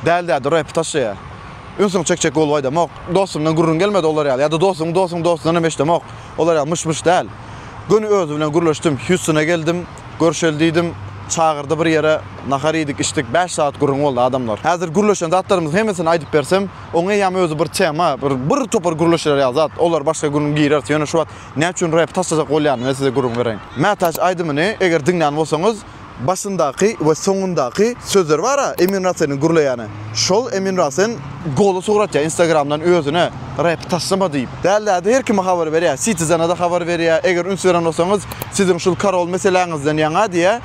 Däl däl dur epi taşla ýa. Ünsüňi çekjek bolup aýdamok. Dostumdan gürrüň gelmedi olar ýaly ýa-da dostuň dostuň dostundan hem eşdemok. Olar ýaly myş myş däl. Göni özi bilen gürleşdim. Hýustona geldim. Görşeli diýdim. Çagyrdy bir ýere. Nahar iýdik, içdik. Bäş sagat gürrüň boldy adamlar. Häzir gürleşen zatlarymyzyň hemmesini aýdyp bersem, oň eýýäm özi bir tema, bir bir topar gürleşiler ýaly zat. Olar başga gün gireris. Ýöne şu wagt näçün repi taşlajak bolýanymy size gürrüň bereýin. Mätäç aýdymyny eger diňlän bolsaňyz, Başyndaky we soňundaky sözler bara Emin Raseniň gürleýäni. Şol Emin Rasen goly sugratýa instagramdan özüne rep taşlama diýip. Däl däde her kime habar berýä Citizenada habar berýä eger üns beren bolsaňyz siziň şul karol meseleňizden ýaňa diýä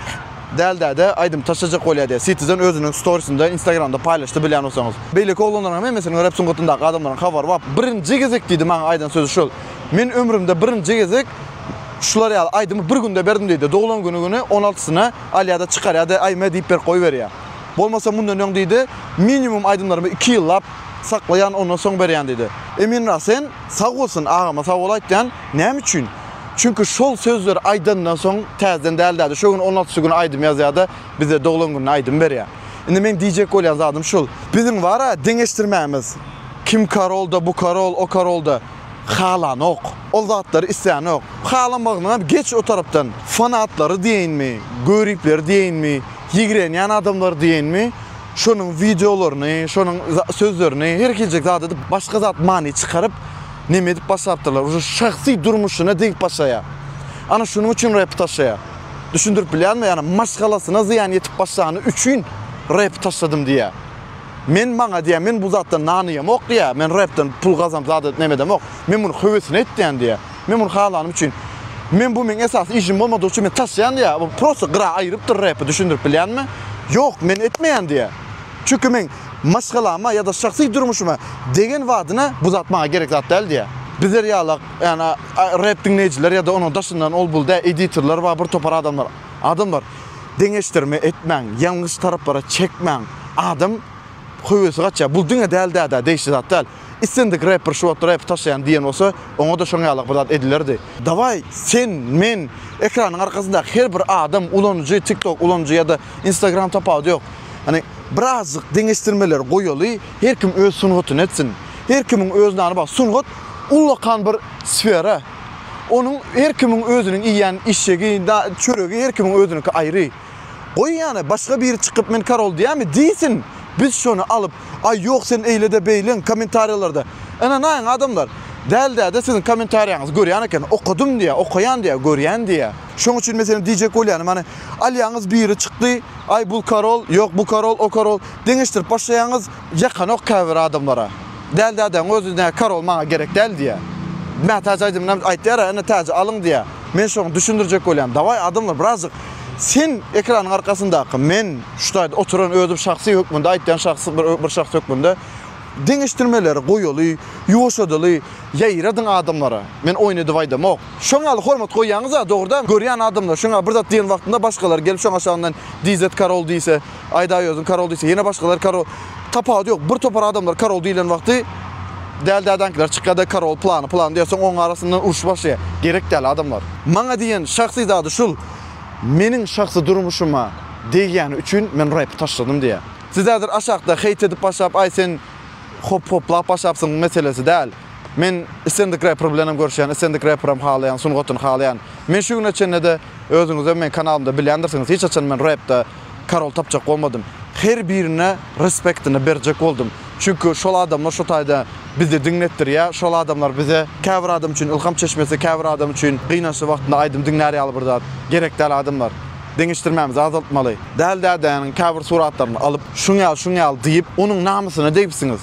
Däl däde aýdym taşlajak bolýa diýä Citizen özüniň storisinde instagramda paýlaşdy bilýän bolsaňyz. Beýleki oglanlaryň hem hemmesiniň rep sungatyndaky adamlaryň habary bar birinji gezek diýdi maňa aýdan sözi şol men ömrümde birinji gezek Şular ýaly aýdymy bir günde berdim diýdi. Doglan güni güni on altysyny alýada çykarýady, aýme diýip berip goýberýä. Bolmasa mundan öň diýdi, minimum aýdymlarymy iki ýyllap saklaýan ondan soň berýän diýdi. Emin Rasen sag bolsun agama sag bol aýtýan, näme üçin? Çünki şol sözleri aýdandan soň täzeden däl däde şo gün on altysy güni aýdym ýazýada bize doglan gününe aýdym berýä. Indi meň diýjek bolýan zadym şul, biziň bara deňeşdirmämiz kim karolda bu karol o karolda halanok. Ol zatlary islänok. Halamagynyňam geç o tarapdan. Fanatlary diýeýinmi, göripleri diýeýinmi, ýigrenýän adamlary diýeýinmi, şonuň wideolaryny, şonuň sözlerini, her hiljek zat edip, başga zat many çykaryp, neme edip başlapdyrlar. Uje şahsy durmuşyna degip başlaýar. Ana şunuň üçin rep taşlaýar. Düşündirip bilýärmi? Ýagny maşgalasyna zyýan ýetip başlany üçin rep taşladym diýýär. Men maňa diýýär, men bu zatdan nanyýamok diýýär, men repden pul gazanyp zat edip näme edemok. Men muny höwesine etýän diýýär. Men muny halanym üçin. Men bu meň esasy işim bolmadygy üçin men taşýan diýýär. Bu prosta gyra aýrypdyr repi düşündirip bilýänmi? Ýok, men etmeýän diýýär. Çünki men maşgalama ýa-da şahsy durmuşyma degen badyna bu zat maňa gerek zat däl diýýär. Bizler ýalak, ýagny rep diňleýjiler ýa-da onuň daşyndan ol-bul dä editorlar bar, bir topar adamlar. Adamlar deňeşdirme etmäň, ýalňyş taraplara çekmäň. Adam höwesi gaçýar. Bul diňe däl dädä degişli zat däl. Islendik repper şu wagt rep taşlaýan diýen bolsa, oňada şoň ýalyk bir zat edilerdi. Dawaý sen, men, ekranyň arkasyndaky her bir adam, ulanyjy, tiktok ulanyjy ýa-da instagram tapawudy ýok. Hani birazjyk deňeşdirmeleri goýaly, her kim öz sungatyny etsin. Her kimiň öz nany bar. Sungat ullakan bir sfera. Onuň her kimiň özüniň iýýän işşegi, çöregi her kimiň özüniňki aýry. Goý ýa-da başga biri çykyp men karol diýýämi diýsin, biz şony alyp, aý ýok sen eýle-de beýleň kommentariýalarda, ynanaýyň adamlar, däl däde siziň kommentariýaňyzy görýän eken, okadym diýýä, okaýan diýýä, görýän diýýä. Şoň üçin meselem diýjek bolýanym hany alýaňyz biri çykdy, aý bul karol, ýok bu karol, o karol, deňeşdirip başlaýaňyz, Ýakanok käbir adamlara. Däl dädäň özi nä karol maňa gerek däl diýýär. Mätäç aýdymynam aýtýara ene täji alyň diýýär. Men şoňa düşündirjek bolýan. Dawaý adamlar birazjyk sen ekranyň arkasyndaky men şu taýda oturan özüm şahsy hökmünde aýtýan şahsy bir şahs hökmünde deňeşdirmeleri goýaly, ýuwaşadaly, ýaýradyň adamlara. Men oýun edip aýdamok. Şoň ýaly hormat goýýaňyza dogrudan görýän adamlar şoňa bir zat diýen wagtynda başgalar gelip şoň aşagyndan DZ karol diýse Aýdaýozyn karol diýse, ýene başgalar karol. Tapawudy ýok. Bir topar adamlar karol diýlen wagty däl dädäňkiler çykýar-da karol plany plany diýýär. Soň oň arasynda uruş başlaýar. Gerek däl adamlar. Maňa diýen şahsy zady şul. Meniň şahsy durmuşyma degýäni üçin men räpi taşladym diýýär. Siz häzir aşakda heýt edip başlap aý sen hop-hoplap başlapsyň meselesi däl. Men islendik räper bilenem görşýän, islendik räperem halaýan, sungatyny halaýan. Men şu güne çenlede özüňizem meň kanalymda bilýändirsiňiz hiç haçan men räpde, karol tapjak bolmadym. Her birine respektini berjek boldum. Çünki şol adamlar şu taýda bizi diňletdirýär. Şol adamlar bize käbir adam üçin ylham çeşmesi, käbir adam üçin gynançly wagtynda aýdym diňlär ýaly bir zat. Gerek däl adamlar. Deňeşdirmämizi azaltmaly. Däli dädäniň käbir suratlaryny alyp, şuň ýaly, şuň ýaly diýip, onuň namysyna degipsiňiz.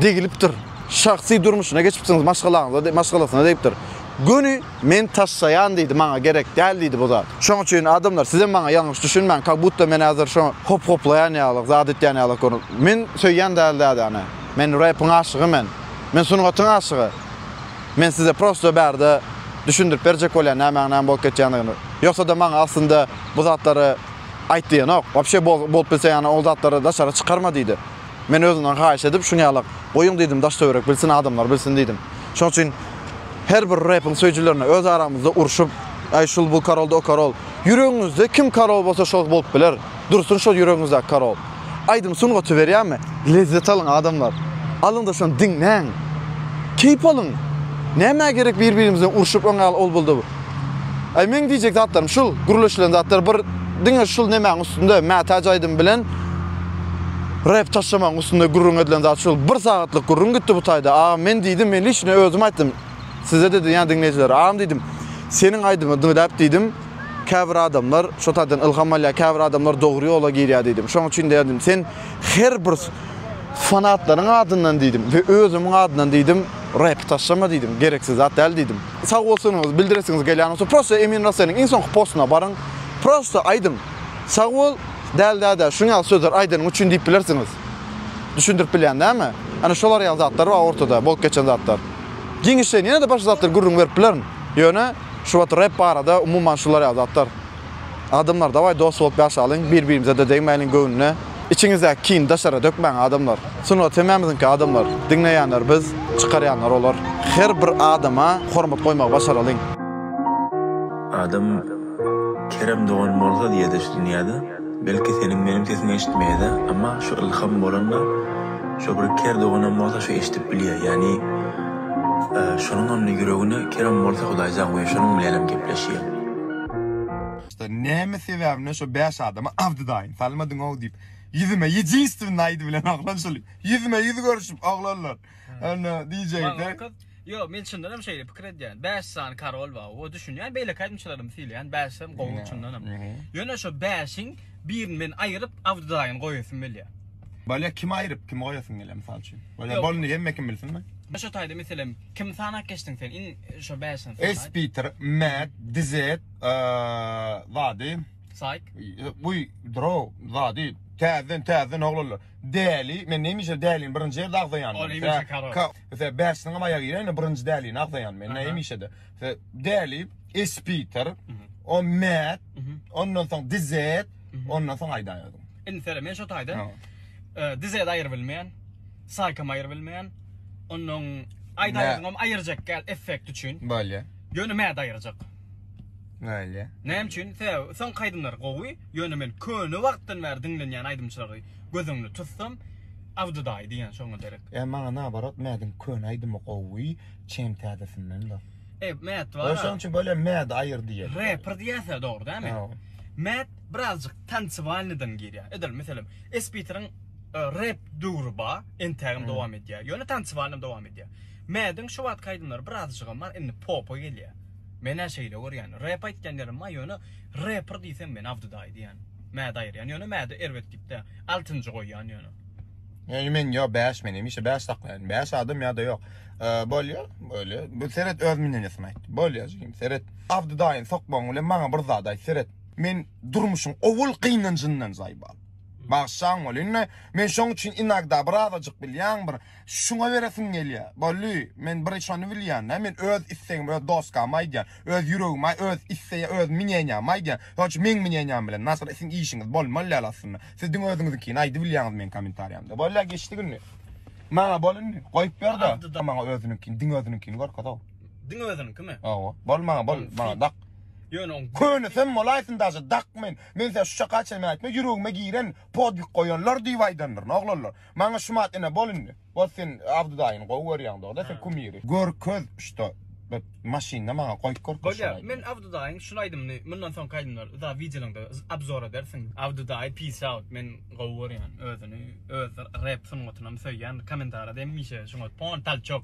Degilipdir. Şahsy durmuşyna geçipsiňiz, maşgalaňyza, maşgalasyna degipdir. Göni. Men taşlaýan diýdi, maňa gerek däl diýdi bu zat. Şoň üçin adamlar sizem maňa ýalňyş düşünmäň, kak butda men häzir şo hop hoplaýan ýalyk, zat etýän ýalyk görün. Men söýýän däl dädäni. Men repiň aşygy men. Men sungatyň aşygy. Men size prosto bärde düşündirip berjek bolýan nämäň näme bolup geçýändigini. Ýogsada maňa aslynda bu zatlary aýt diýenok. Wapşe bolup bilse ýana ol zatlary daşary çykarma diýdi. Men özümden haýyş edip, şuny ýalak, goýuň diýdim, daş-töwerek bilsin, adamlar bilsin diýdim. Şoň üçin her bir repiň söýüjilerine öz aramyzda urşup, Aý şul-bu karoldy o karol. Ýüregiňizde kim karol bolsa şol bolup biler. Dursun şol ýüregiňizdäki karol. Aýdym sungaty berýärmi? Lezzet alyň adamlar. Alyňda şony diňläň. Keýp alyň. Nämä gerek bir-birimizden urşup öňe al ol-bul-da-bu. Aý meň diýjek zatlarym şul, gürleşilen zatlar bir diňe şul nemäň üstünde, mätäç aýdym bilen rep taşlamagyň üstünde gürrüň edilen zat şul. Bir sagatlyk gürrüň gitdi bu taýda. Agam men diýdim, men liçno özüm aýtdym. Size-de diýýän diňleýjilere. Agam diýdim, seniň aýdymy diňläp diýdim, käbir adamlar şo taýdan ylham alýar, käbir adamlar dogry ýola girýär diýdim. Şoň üçin diýdim, sen her bir fanatlaryň adyndan diýdim we özümiň adyndan diýdim, rep taşlama diýdim, gereksiz zat däl diýdim. Sagbolsunyňyzy bildiresiňiz gelýän bolsa prosta Emin Raseniň iň soňky postuna baryň. Prosta aýdyň. Sagbol, däl däde, şunuň ýaly sözleri aýdanyň üçin diýip bilersiňiz. Düşündirip bilýän dälmi? Ana şolar ýaly zatlar bar ortada, bolup geçen zatlar. Giňişleýin ýene-de başga zatlar gürrüň berip bilerin. Ýöne şu wagt rep barada umuman şular ýaly zatlar. Adamlar daway dost bolup ýaşalyň bir birimizede degmäliň göwnüne içiňizdäki kini daşara dökmäň adamlar sungat hemmämiziňki adamlar diňleýänler biz çykarýanlar olar her bir adama hormat goýmagy başaralyň. Adam Kerem dogan bolsa diýede şu dünýäde belki seniň meniň sesiňi eşitmeýede amma şu ylham bolanda şo bir ker doganam bolsa şu eşidip bilýä ýani şonuňam ýüregine Kerem bolsa hudaýjan goýa şonuň bilenem gepleşýä. Şda näme sebäbimden şo bäş adama Abdy daýyň salmadyňow diýip ýüzüme ýedinstvny aýdy bilen oglan şul ýüzme ýüz görüşip oglanlar onda diýjekdi. Ýok men çyndanam şeýle pikir edýän bäş sany karol bar we düşünýän beýleki aýdymçylarymy sylaýan bäşem gowy çyndanam ýöne şo bäşiň birini men aýryp Abdy daýyny goýasym gelýär. Bolýa kimi aýryp kimi goýasyň gelýär mysal üçin bolýa bolny hemme kim bilsinmi. Başotaýda meselem. Kimi sanap geçdiň sen iň şo bäşini sanaý. Espeter, Mad, Dizet, zady. Saýk. Guý, Drow, zady. Täzeden täzeden oglanlar. Däli, men näme işe dälini birinji ýerde agzaýan. Ol hemişe karol. Ka, ýa bäşiniňem aýagy giräýne birinji dälini agzaýan men näme işede. Däli, Espeter, o Mad, ondan soň Dizet, ondan soň aýdaýadyň. Indi seret, men şo taýdan Dizet aýyryp bilmeýän. saýkam aýyr bilmeýän. Ondan aýdaýaňam aýyrjak gel effekt üçin. Bolýa. Ýöne mäde aýyrjak. Bolýa. Näme üçin? Sebäbi soňky aýdymlar gowy, ýöne men köne wagtdan bäri diňlenýän aýdymçylary göz öňüne tutsam, Abdy daýy diýýän şoňa derek. Ýa maňa naobarot Mädiň köne aýdymy gowy, çem täzesinden bar. Ep Mät bar. Ol şoň üçin bolýa Mädi aýyr diýýäs. Reper diýýäs-ä dogry dämi? Mäd Birazjyk tancevalnydan girýär. Edil, meselem, Esbiteriň rep döwri ba, entägem dowam edýär. Ýöne tancevalnam dowam edýär. Mädiň şu wagtky aýdymlary birazjygam bar, indi popa gelýär. Men-ä şeýle görýän. Rep aýtýan ýerim ba, ýöne reper diýsem men Abdyda aýdýan. Mädi aýyrýan. Ýöne Mädi erbet diýip däl. Altynjy goýýan ýöne. Ýöne men ýok, bäş men hemişe bäş saklaýan. Bäş adam ýa-da ýok. Bolýa, bolýa. Bu seret öz münýenesini aýt. Bolýa jigim, seret. Abdyda aýyn sokmagyň bilen maňa bir zat aýt, seret. Men durmuşyň owal gynanjyndan zaýbal. Bagsjaň bol. Indi men şoň üçin inagda birazajyk bilýän bir şuňa beresim gelýä. Bolly, men bir şony bilýän-dä, men öz istegimi öz doskama aýdýan, öz ýüregime öz istegä öz miňenýämi aýdýan. Şoň üçin meň miňenýäm bilen Nasyr siň işiňiz bolmaly däl aslynda. Siz diňe özüňiziňkini aýdyp bilýäňiz meň komentariýamda. Bolýa geçdik indi. Maňa bol indi. Goýup ber-de. Maňa özüniňkini, diňe özüniňkini görkez-ow. Diňe özüniňkimi? Hawa. Bol maňa bol. Maňa dak. Ýöne oň könesem bolaýsyn daže dak men. Men size şu çaka çenli aýtma ýüregime giren podwig goýanlar diýip aýdandyryn oglanlar. Maňa şumat ene bol indi. Bol sen Abdy daýyny gowy görýäň dogry sen kumiri. Görkez şto bir maşynda maňa goýup görkez. Bolýar men Abdy daýyň şul aýdymyny mundan soňky aýdymlary za wideolaňda obzor edersiň. Abdy daýy peace out men gowy görýän özüni öz rep sungatynam söýýän komentarada hemişe şuňa pon talçok.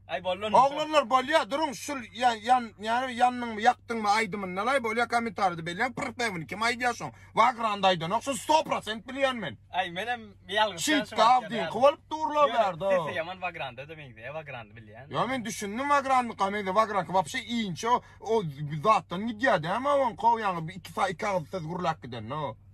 Ay bollan. Oglanlar bolýa duruň şul yan yan yani yannyňmy ýakdyňmy aýdymyndanay bolýa kommentarýada belläň pyrpewini kim aýdýa şoň wagranda aýdanok şuny 100% bilýän men. Ay menem ýalňyş ýaşap. Şit gawdyňky bolup durla bärde. Sesi ýaman wagranda da meňzeýä wagrandy bilýän. Ýa men düşündim wagrandyka meňzeýä wagranka wapşe inçe o zatdan gidýä dämi oňko ýaňy iki iki agyz söz gürläp gidende o.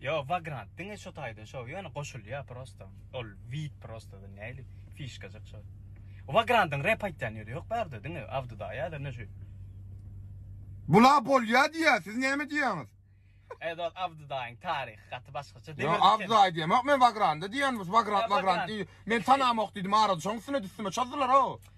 Ýok Vagrant diňe şo taýda şo ýöne goşulýa prosta ol wid prosta näli fişkajyk şo. Vagrandyň rep aýtýan ýeri ýok bärde diňe awdyda ýa-da ne şu. Bula bolýa diýýä siz näme diýýäňiz. Eý dos awdydaýyň taryhy gaty başgaça demir. Ýok awdydaýy diýemok men Vagrandy diýýän biz Vagrant Vagrant diý men tanamok diýdim arada şoň üstüne düstüme çozdular o.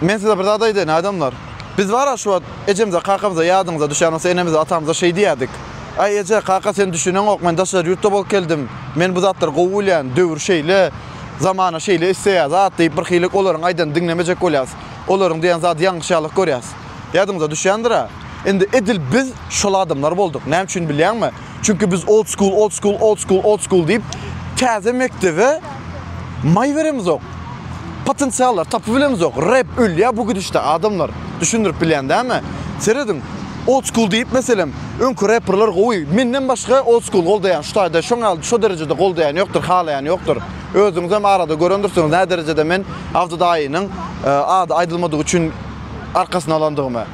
Men size bir zat aýdaýyn, adamlar. Biz bar-a şu wagt ejemize, kakamyza, ýadyňyza düşýän bolsa, enemize, atamyza şeý diýýärdik, Aý, eje, kaka, sen düşüneňok, men daşary ýurtda bolup geldim, men bu zatlary gowy bilýän, döwür şeýle, zamana şeýle isleýär zat diýip, birhili olaryň aýdanyny diňlemejek bolýarys. Olaryň diýen zady ýalňyş ýalyk görýäris. Ýadyňyza düşýändir-ä. Indi edil biz şol adamlar bolduk. Näme üçin bilýäňmi? Çünki biz old school, old school, old school, old school diýip täze mekdebe maý beremizok. Potensiallar tapyp bilemizok. Rap ölýär bu gidişde adamlar. Düşündirip bilýän dämi? Serediň. Old school diýip meselem, öňki reperler gowy. Menden başga old school goldaýan şu taýda şoň al şo derejede goldaýan ýokdur, halaýan ýokdur. Özüňiz hem arada görendirsiňiz nä derejede men Abdy daýynyň e, ady aýdylmadygy üçin arkasyna alandygymy.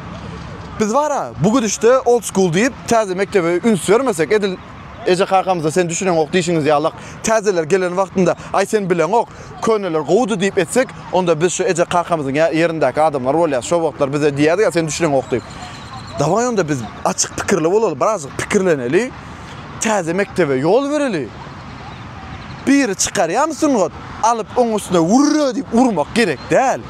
Biz bar-a, bu gidişde old school diýip, täze mekdebe üns bermesek, edil eje-kakamyza sen düşüneňok diýşiňiz ýalak, täzeler gelen wagtynda, aý sen bileňok, köneler gowudy diýip etsek, onda biz şu eje-kakamyzyň ýa ýerindäki adamlar bolýas, şo wagtlar bize diýerdi-ä sen düşüneňok diýip. Dawaý onda biz açyk pikirli bolaly, birazjyk pikirleneli, täze mekdebe ýol bereli. Biri çykarýamy sungat, alyp oň üstüne wurra diýip urmak gerek däl.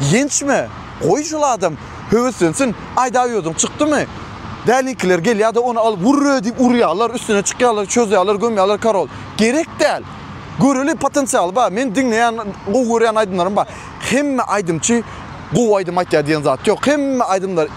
Ýençme. Goý şol adam höweslensin. Aýdaý özüň çykdymy? Däliňkiler gelýärde ony alyp wurr-re diýip urýarlar, üstüne çykýarlar, çözýärler, gömýärler karol. Gerek däl. Göreli potensialy bar. Meniň diňleýän, gowy görýän aýdymlarym bar. Hemme aýdymçy gowy aýdym aýtýar diýen zat ýok. Hemme aýdymlar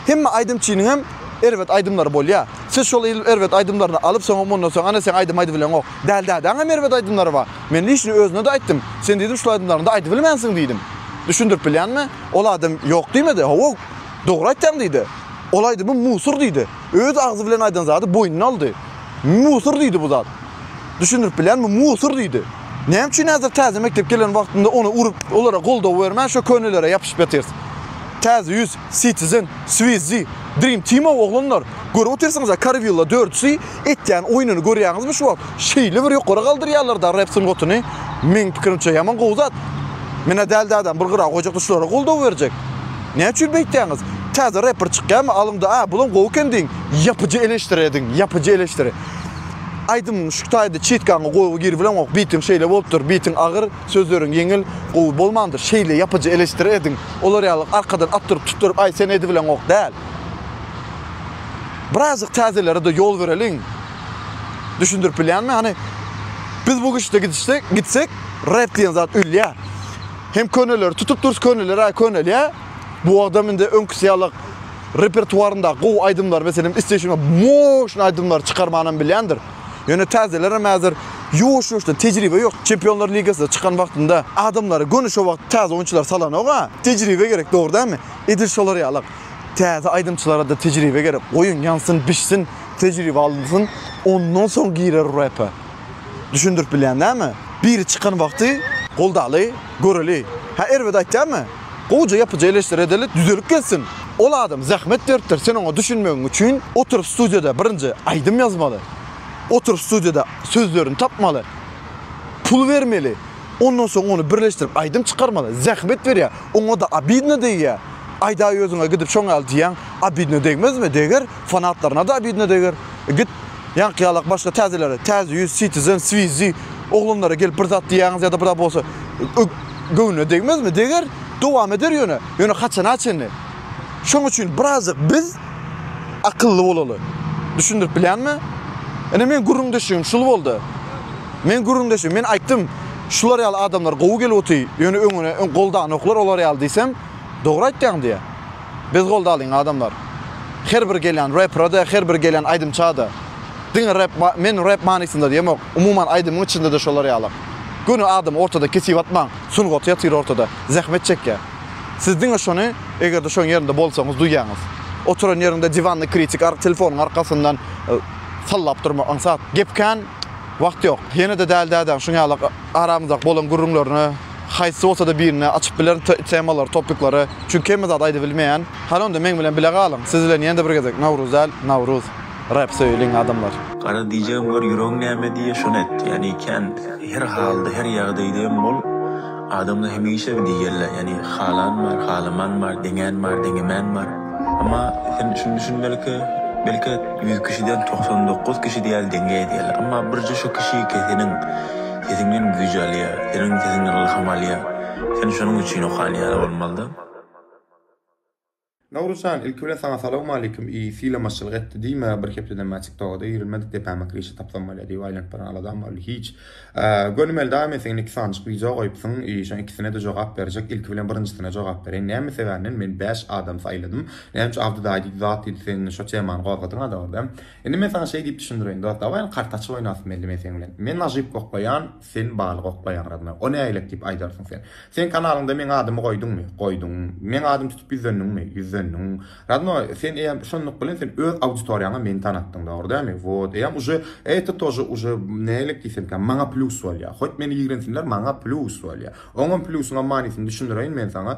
hemme aýdymçynyň hem erbet aýdymlary bolýar. Siz şol erbet aýdymlaryny alyp soňam ondan soň ana seň aýdym aýdybileňok. Däli dädäň hem erbet aýdymlary bar. Men işini özüne-de aýtdym. Sen diýdim şul aýdymlaryňda aýdybilmänsiň diýdim. Düşündirip bilýänmi? Ol adam ýok diýmedi. Hawa, dogry aýtýaň diýdi. Ol aýdymym musur diýdi. Öz agzy bilen aýdan zady boýnuna aldy. Musur diýdi bu zat. Düşündirip bilýänmi? Musur diýdi. Näme üçin häzir täze mekdep gelen wagtynda ony urup, olara goldaw bermän şo könelere ýapyşyp ýatyrs? Täze ýüz. Citizen, Swizzy, Dream Team-ow oglanlar, görüp otyrsyňyz-a Karwilla dördüsi etýän oýnuny görýäňizmi şu wagt, şeýle bir ýokary galdyrýarlar-da rep sungatyny, meň pikirimçe ýaman gowy zat. Men-ä däl dädäm bir gyra goýjakdy şulara goldaw berjek. Näme üçin beýtýäňiz? Täze repper çykýamy alyňda a bulam gowy eken diýiň. Ýapyjy eleştiri ediň, ýapyjy eleştiri. Aýdymyň şu taýda çitgaňy goýgy girip bilemok, bitiň şeýle bolupdyr, bitiň agyr, Sözleriň ýeňil, gowy bolmandyr. Şeýle ýapyjy eleşdiri ediň. Olar ýaly arkadan atdyryp tutduryp aý sen edibileňok däl. Birazjyk täzelerede ýol bereliň. Düşündirip bilýänmi hany? Biz bu güçde gidişsek, gitsek rep diýen zat ölýä. Hem köneleri tutup durys köneler aý könelýä. Bu adam indi öňküsi ýaly repertuarynda gowy aýdymlar meselem isleýşine moşn aýdymlar çykarmanam bilýändir. Ýöne täzelerem häzir ýuwaş-ýuwaşdan tejribe ýok. Çempionlar ligasyna çykan wagtynda adamlara göni şo wagt täze oýunçylary salanok-a. Tejribe gerek, dogry dälmi? Edil şolar ýaly-ak. Täze aýdymçylara-da tejribe gerek. Goýuň, ýansyn, bişsin, tejribe alynsyn, ondan soň girer repe. Düşündirip bilýän dälmi? Biri çykan wagty goldaly, göreli. Hä, erbet aýtýarmy? Gowja ýapyja eleşdiredeli düzelip gelsin. Ol adam zähmet beripdir sen oňa düşünmegiň üçin oturyp studiýada birinji aýdym ýazmaly. Oturyp studiýada sözlerini tapmaly. Pul bermeli. Ondan soň ony birleşdirip aýdym çykarmaly. Zähmet berýär. Oňada obidno degýär. Aýdaý özüňe gidip şoňaly diýýäň. Obidno degmezmi? Deger. fanatlaryna da bidne deger. Git ýaňky ýalak başga täzeleri, Täze ýüz, Citizen, Swizzy oglanlara gelip bir zat diýýäňiz ýa-da bir bolsa göwnüne degmezmi? Deger, dowam eder ýöne. Ýöne haçana çenli? Şoň üçin birazjyk biz akylly bolaly. Düşündirip bilýänmi? Ine meň gürrüňdeşligim şul boldy. Meň gürrüňdeşim, men aýtdym, şular ýaly adamlar gowy gelip otyr, ýöne öňüne öň goldanoklar olar ýaly diýsem, dogry aýtýaň diýýär. Biz goldalyň adamlar. Her bir gelýän reprada her bir gelýän aýdymçada diňe rep men rep manysynda diýemok umuman aýdymyň içindede şolar ýaly göni adam ortada kesip atmaň sungaty ýatyr ortada zähmet çekýä siz diňe şony egerde şoň ýerinde bolsaňyz duýýaňyz oturan ýeriňde diwanny kritik ar telefonyň arkasyndan sallap durma aňsat gep kän wagt ýok ýenede däl dädäň şuň ýaly aramyzda bolan gürrüňlerine. haýsy bolsada birine açyp bilerin temalary topiklary çünki hemme zady aýdy bilmeýän hany onda meň bilen bile galyň siz bilen ýene-de bir gezek Nowruz däl Nawruz rap söýeliň adamlar. Garaz diýjegim gör ýüregiň näme diýýä şony et ýani kän her halda her ýagdaýda hem bol adamlar hemişe diýýärler ýani halan bar halaman bar deňän bar deňemän bar emma sen şuny düşün belki belki ýüz kişiden togsan dokuz kişi diýýär deňe diýýärler emma birje şu kişi keseniň Sesiňden güýj alýa, seniň sesiňden ylham alýa. Sen şonuň üçin okan ýaly bolmalyda. Nowruz jan ilki bilen saňa salowmalikim i sylamaçylyk etdi diýme bir hepdeden bäri tiktoga-da girilmedik depäme kirişi tapsam bolýa diýip aýlanyp baran aladam boldy hiç Gönümel daýme seň iki sanjyk wideo goýupsyň i şoň ikisine-de jogap berjek ilki bilen birinjisine jogap bereýin näme sebäbnden men bäş adam saýladym näme üçin Abdy daýy diýdi zat diýdi sen indi şo temany gozgadyň adamada. Indi men saňa şeý diýip düşündireýin, dost, dawaý, kart açyp oýnasym geldi men seň bilen. Men nažyp goklaýan, sen balyk oklaýaň, Radmä. O nägilek diýip aýdarsyň sen. Seň kanalyňda meň adymy goýduňmy? Goýduň. Meň adymy tutup ýüzlendiňmi? Ýüzlendiň. Radmä, sen eýýäm şonluk bilen sen öz auditoriýaňa meni tanatdyň, dogry dälmi? Wot, eýýäm uje eýta tože uje nägilek diýsemkä, maňa plýus bolýar. Hoýt meni ýigrensinler, maňa plýus bolýar. Oňam plýusyňam manysyny düşündireýin men saňa.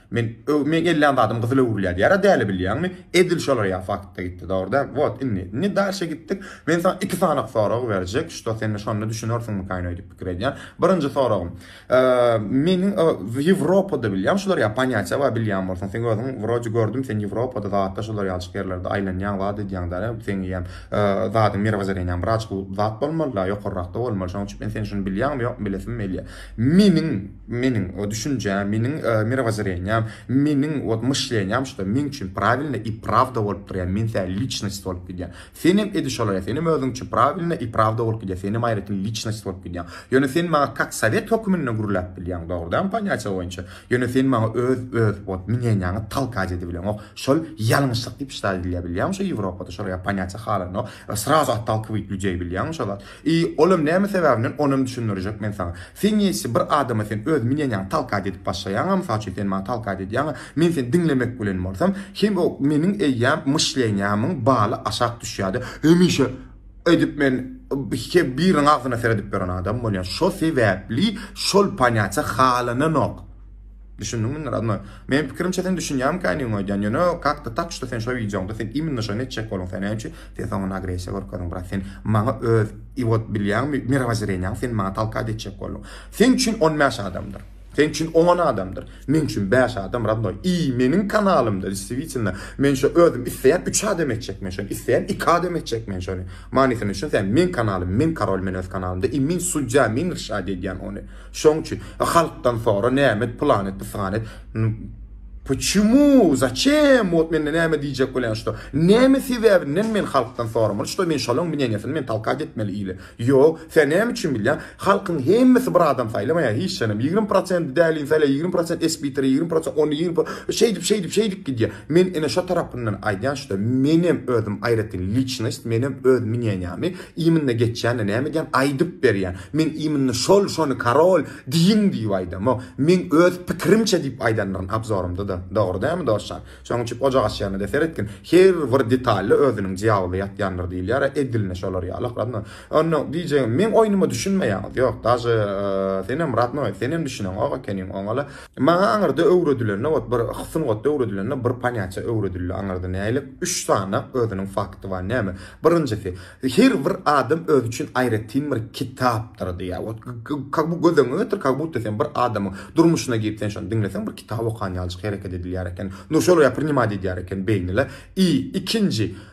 Men öw meň ellän zadym gyzyl öwrülýär diýýär a däli bilýäňmi? Edil şolar ýaly faktda gitdi dogry däl wot indi indi dalşe gitdik men saňa iki sanyk sorag berjek şto sende şonda düşünersiňmikaýn öýdüp pikir edýän birinji soragym meniň ýewropada bilýän şolar ýaly panýatiýa bar bilýän bolsaň seň özüň wroje gördüm sen ýewropada zatda şolar ýalçyk ýerlerde aýlanýaň zat edýäň däne seň eýýäm zadyň mirewozereniýaň bir aç zat bolmaly da ýokarrakda bolmaly şonuň üçin men sen şuny bilýäňmi ýokmy bilesim melýär meniň Meniň o düşünjäm, meniň mirawozoreniýam, meniň вот myşleniýam şuda meň üçin prawilno i prawda bolup durýar, men sä liçnost bolup gidýän. Senem edi şolaýa, senem özüň üçin prawilno i prawda bolup gidýär, senem aýratyn liçnost bolup gidýäň. Ýöne sen maňa kak sowet höküminde gürläp bilýäň, dogrydan ponýatiýa boýunça. Ýöne sen maňa öz öz вот mneniýaňy talkać edibileňok. Şol ýalňyşlyk diýip ştal edilýär bilýäňmi şo Ýewropada şolaýa ponýatiýa halanok. Srazu ottolkowit ljudeý bilýäňmi şo zat. I, olam näme sebäbimden, onam düşündirjek men saňa. Sen njeçe bir adama sen öz minenjaňy talkaýt edip başlaýaňa, mysal üçin sen maňa talkaýt edýäňa, men seni diňlemek bilen bolsam, hem o meniň eýýäm myşleniýamyň baly aşak düşýärdi, hemişe edip men he biriniň agzyna seredip ýören adam bolýan, şo sebäpli şol panýatja halananok. Düşündiňmi indi rodnoý? Meniň pikirimçe sen düşünýäňmi känigiň aýdýan ýöne kak to tak şto sen şo wideoňda sen iminno şony etjek boluň sen näme üçin sen soňundan agresiýa görkezdiň brat sen maňa öz i wot bilýäňmi mirowozreniýaňy sen maňa talkad etjek bolduň seň üçin on bäş adamdyr seň üçin oňon adamdyr meň üçin bäş adam rodnoý i meniň kanalymda destiwitelno men şo özüm isleýän üç adam etjek men şony isleýän iki adam etjek men şony manysyny düşünseň meň kanalym meň karol men öz kanalymda i men sudýa men irşad edýän ony Şoň üçin halkdan sora nämet pylan et pysan et Puçimu začem wot mende näme diýjek bolýan şto näme sebäbinden men halkdan soramaly şto men şolaň mneniýasyny men talkat etmeli ile ýok sen näme üçin bilýän halkyň hemmesi bir adam saýlamaýar hiç janym ýigrimi prosent dälini saýlaýar ýigrimi prosent espiteri ýigrimi prosent ony ýigrimi şeýdip şeýdip şeýdip gidýär Men ine şo tarapyndan aýdýan şuda menem özüm aýratyn liçnost menem öz mneniýamy imnna geçýände näme edýän aýdyp berýän men imnna şol şony karol diýiň diýip aýdamok meň öz pikirimçe diýip aýdanlaryn abzorymda da dogry dälmi dostjan şoň üçin ojak açýanda de seretgin her bir detalda özüniň jyabyly ýatýandyr diýilýär a edilne şolar ýaly akradno onda diýjegim meň oýnuma düşünmeýäňiz ýok daže senem radnoý senem düşüneňok ekeniň oňala Maňa aňyrda öwredilende ot bir sungatda öwredilende bir panýaça öwredildi aňyrda nälik üç sany özüniň fakty bar näme birinjisi her bir adam özi üçin aýratyn bir kitapdyr diýýär wot kag bu göz öňüňe getir kag budda sen bir adamyň durmuşyna girip sen şony diňleseň bir kitap okan ýalyjyk hereket edilýär eken nur şol ýa priňimat edýär eken beýnile i ikinji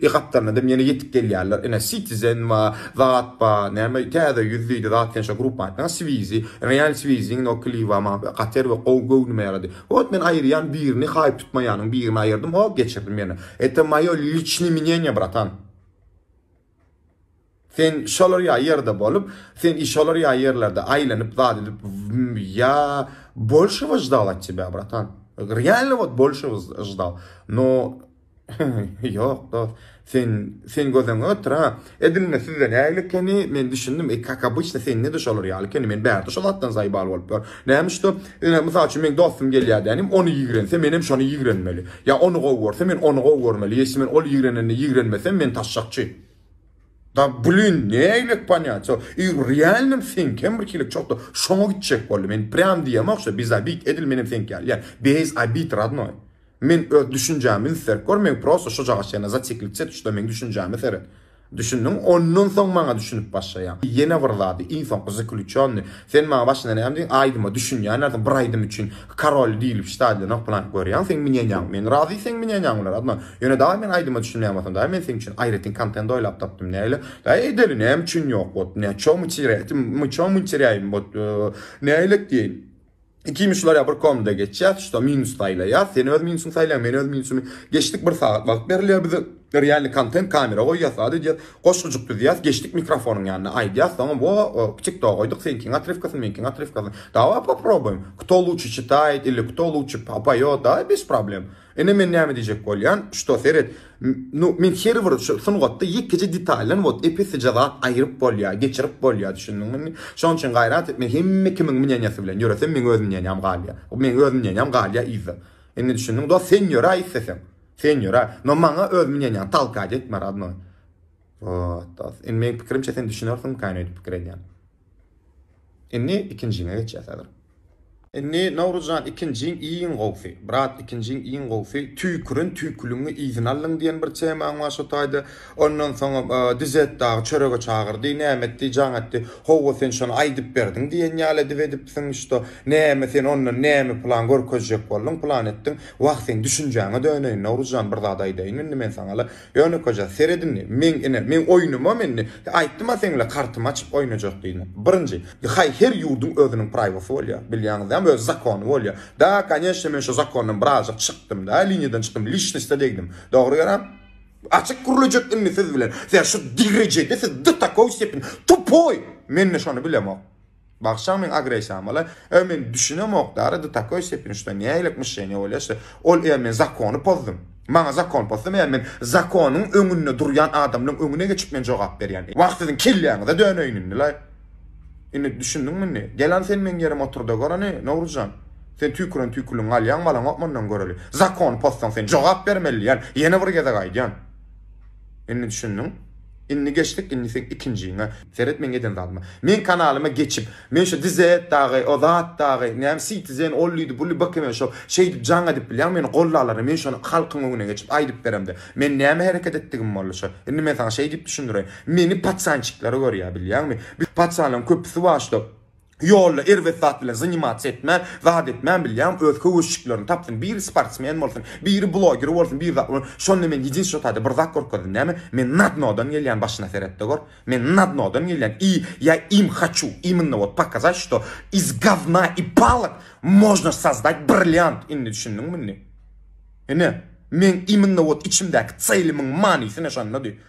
E gapdalynadam ýene ýetip gelýärler. Ine Citizen ba, zat ba, näme täze ýüz diýdi zat ýaşa grupma aýtma Swizi, Real Swiziň no kliba ma kater we gowy göwnüme ýarady. Ot men aýyrýan birini haýp tutmaýanyň birini aýyrdym hop geçirdim ýene. Eto moýo liçni minýenýe bratan. Sen şolar ýa ýerde bolup, sen i şolar ýa ýerlerde aýlanyp zat edip ýa bolşew ždawaçy be bratan. Realno wot bolşew ždaw. No ýok dost. Sen sen gözüňi ötür ha. Edinme sizde nägile ekeni men düşündim. E kak obýçna sende de şolar ýaly ekeni. Men bärde şo zatdan zaýbal bolup ýör. Näme üçde? Ine mysal üçin men dostum gelýär dänim ony ýigrense men hem şony ýigrenmeli. Ýa ony gowy görse men ony gowy görmeli. Ýesi men ol ýigrenende ýigrenmesem men taşşakçy. Da blin, nägilek panýaço, i u realnom seňkem bir hilik çokda şoňa gitjek boldy, men prýam diýemok şo biz obid edil menem seňki ýaly ýa beýz obid radnoý. Men öz düşünjämi inserk gör men prosta şojagaç ýene zatiklik çet uçda meň düşünjäme seret. Düşündiň ondan soň maňa düşünip başlaýaň. Ýene bir zady iň soňky zykluçýonny. Sen maňa başynda näme diýen aýdyma düşünýänlersiň bir aýdym üçin karol diýlip ştadion oklanyp görýäň seň minýenýaň men razy seň minýenýaň bilen adyma ýöne daýy men aýdyma düşünýän bolsam daýy men seň üçin aýratyn kontent oýlap tapdym näle daýy edeli näme üçin ýok botdy näçe myçyrýaýmy botdy nälet diýeýin. Ikimiz şular ýa bir komnda geçýäs, şuda minus saýlaýas, sen öz minusyňy saýlaýaň, men öz minusymy. Geçdik bir sagat wagt berilýär bize. Realny kontent kamera goýýas, zat edýäs. Goşgujyk düzýäs, geçdik mikrofonyň ýanyna aýdýas, soňam wo TikTok goýduk, seňkiň otrywkasyny, meňkiň otrywkasyny. Daway poprobuým, kto luçi çitaýt ili kto luçi poýot, daý, bez problem. Ine men näme diýjek bolýan, şto seret, nu men her bir şu sungatda ýekeje detaldan wot epesije zat aýyryp bolýar, geçirip bolýar düşündiňmi indi. Şonuň üçin gaýrat et, men hemme kimiň mnýanýasy bilen ýöresem meň öz mnýanýam galýar. Meň öz mnýanýam galýar yzda. Indi düşündiň dost, sen ýöre isleseň. Sen ýöre, no maňa öz mnýanýaňy talkaý etme rodnoý. Wot dost, indi meň pikirimçe sen düşünersiň kän öýdüp pikir edýän. Indi ikinjiňe geçýäs häzir. Indi Nowruzjan ikinjiň iň gowsy. Brat ikinjiň iň gowsy tüýkürin tüýküliňi yzyna aldyň diýen bir temaň bar şo taýda. Ondan soň Dizet dagy çörege çagyrdy. Näme etdi jaň etdi. Howwa sen şony aýdyp berdiň diýen ýaly edip edipsiň şto. Näme sen ondan näme plan görkezjek bolduň plan etdiň. Wah seň düşünjäňe döneýin Nowruzjan bir zat aýdaýyn indi men saňa-la. Ýönekeje, seret indi, meň, ine, meň oýnumam indi, aýtdym-a seňle kartymy açyp oýnajak diýdim. Birinji, haý, her ýurduň özüniň praýwosy bolýar, bilýäňizlämi, öz zakony bolýar. Da, koneçne, men şu zakondan birazajyk çykdym-da, liniýadan çykdym, lişniste degdim. Dogry ýöräp, açyk gürlejek indi siz bilen, siz şu derejede, siz do takoý stepeni, tupoý! Men-de şony bilemok. Bagşaň meň agressiýam bala e men düşünemok dara do takoý stepeni şto nähililik myşleniýa bolýa şto ol e men zakony pozdum maňa zakon pozdum e men zakonyň öňünde durýan adamlaň öňüne geçip men jogap berýän e wah siziň kelläňize döneýin indi la indi düşündiňmi indi gel an sen meň ýerime oturda gör ony Nowruzjan sen tüýküren tüýküligiňi alýaň balaňok mundan göreli zakony pozsaň sen jogap bermeli diýän ýene bir gezek aýdýan. Indi düşündiň? Indi geçdik indi seň ikinjiňe. Seret meň eden zadyma. Meň kanalyma geçip Men şu dize et dagy o zat dagy näme sitizen ollydy bully bkm şo şeýdip jaň edip bilýäň meni gollalaryň men şony halkyň öňüne geçip aýdyp beremde men näme hereket etdigim bolly şo indi men saňa şeýdip düşündireýin meni patsançikleri görýä bilýäňmi biz patsanlaryň köpüsi waşta Ýolda erbet zat bilen zanimasiýa etmän, zat etmän bilýäň, öz höwesjiklerini tapsyn, biri sportsmen bolsun, biri bloger bolsun, biri zat bolsun, şonda men ýedinstwo taýda bir zat görüp geldim, näme, men na dnodan gelýän başyna seret-de gör, men na dnodan gelýän i ýa im haçu immnno wot pokazat što iz gavna i palok možno sozdat brilliant, indi düşündiňmi indi? Ine, meň immnno wot içimdäki ceýlimiň manysy ine şondady,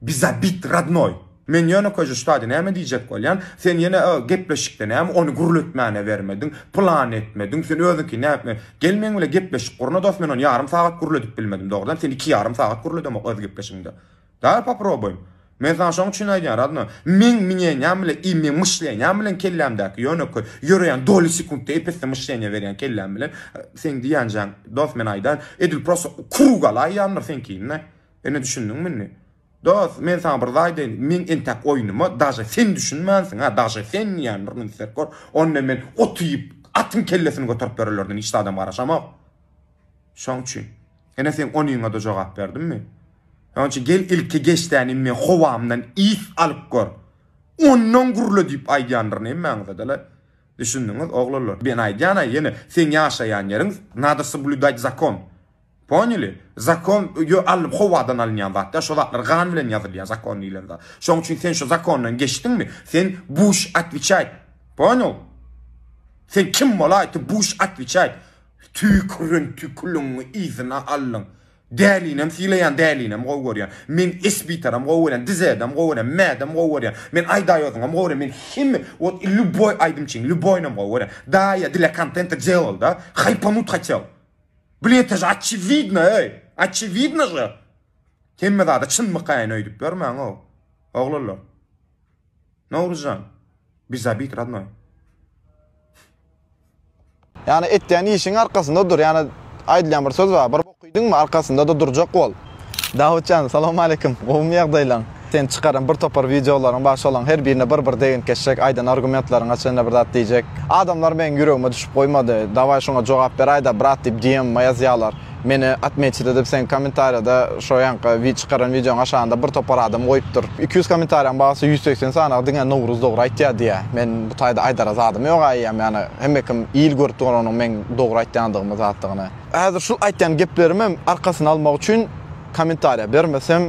Bi zabit rodnoý. Men ýönekeje ştady näme diýjek bolýan, sen ýene o gepleşikde näme ony gürletmäne bermediň, plany etmediň, sen özüňki näme gel meň bile gepleşik gurna dos men ony ýarym sagat gürledip bilmedim dogrudan sen iki ýarym sagat gürledemok öz gepleşigiňde. Dal poproboýym. Men saňa şoň üçin aýdýan rodnoý, meň minenýam bilen i meň myşlenýam bilen kellämdäki ýönekeý ýöreýän doly sekuntda epesli myşleniýa berýän kelläm bilen seň diýänjäň dos men aýdaýyn edil prosto krugalaýýandyr seňkini. Indi düşündiňmi indi? Dos, men saňa bir zaý diýeýin, meň entäk oýnuma daže sen düşünmänsiň, hä, daže sen diýýän bir gün isläp gör, onda men ot iýip, atyň kellesini göterip bererlerden hiç zadam garaşamok. Şoň üçin, ene seň onyňa-da jogap berdimmi? Şoň üçin gel ilki geçdäni indi howamdan is alyp gör. Ondan gürle diýip aýdýandyryn hemmäňize-de-le. Düşündiňiz, oglanlar? Men aýdýan-a ýene, seň ýaşaýan ýeriň, nado soblýudać zakon. Ponyly? Zakon ýo alnyp howadan alynýan zat däl şo zatlar gan bilen ýazylýar zakon diýilen zat. Şoň üçin sen şo zakondan geçdiňmi sen buş atwiçaýt. Ponyl? Sen kim bolaý ty buş atwiçaýt. Tüýkürin tüküliňi yzyna aldyň. Dälinem sylaýan dälinem gowy görýän. Men esbitaram gowy görýän dizedem gowy görýän mädem gowy görýän. Men aýdaýozyňam gowy görýän men hemme wot i lýuboý aýdymçyň lýuboýnam gowy görýän. Daýa dlya kontenta delal da. Haýpanut hatel. Bul ete je oçiwidno eý. Oçiwidno je. Hemme zada çynmykaýyn öýdüp ýörmäň ow. Oglanlar. Nowruzjan. Biz zabit radnoý. Ýani etýän işiň arkasynda dur ýani aýdylýan bir söz bar bir bok iýdiňmi arkasynda-da durjak bol. Dawutjan salowmaleýkim gowmy ýagdaýlaň sen çykaran bir topar wideolaryň bar şolaň her birine bir bir degint geçjek aýdan argumentlaryňa çenli bir zat diýjek adamlar meň ýüregime düşüp goýmady dawaý şoňa jogap beraýda brat diýip dm-ma ýazýalar meni atmeçit edip seň komentarýada şo ýaňky çykaran wideoň aşagynda bir topar adam goýupdyr iki ýüz komentarýaň bagsy ýüz segsen sanagy diňe Nowruz dogry aýtýa diýýä men bu taýda aýdara zadym ýoga eýýäm ýagny hemmekim il görüp dur onuň meň dogry aýtýandygymy zatdygyny. Häzir şul aýtýan geplerimem arkasyny almak üçin kommentariýa bermesem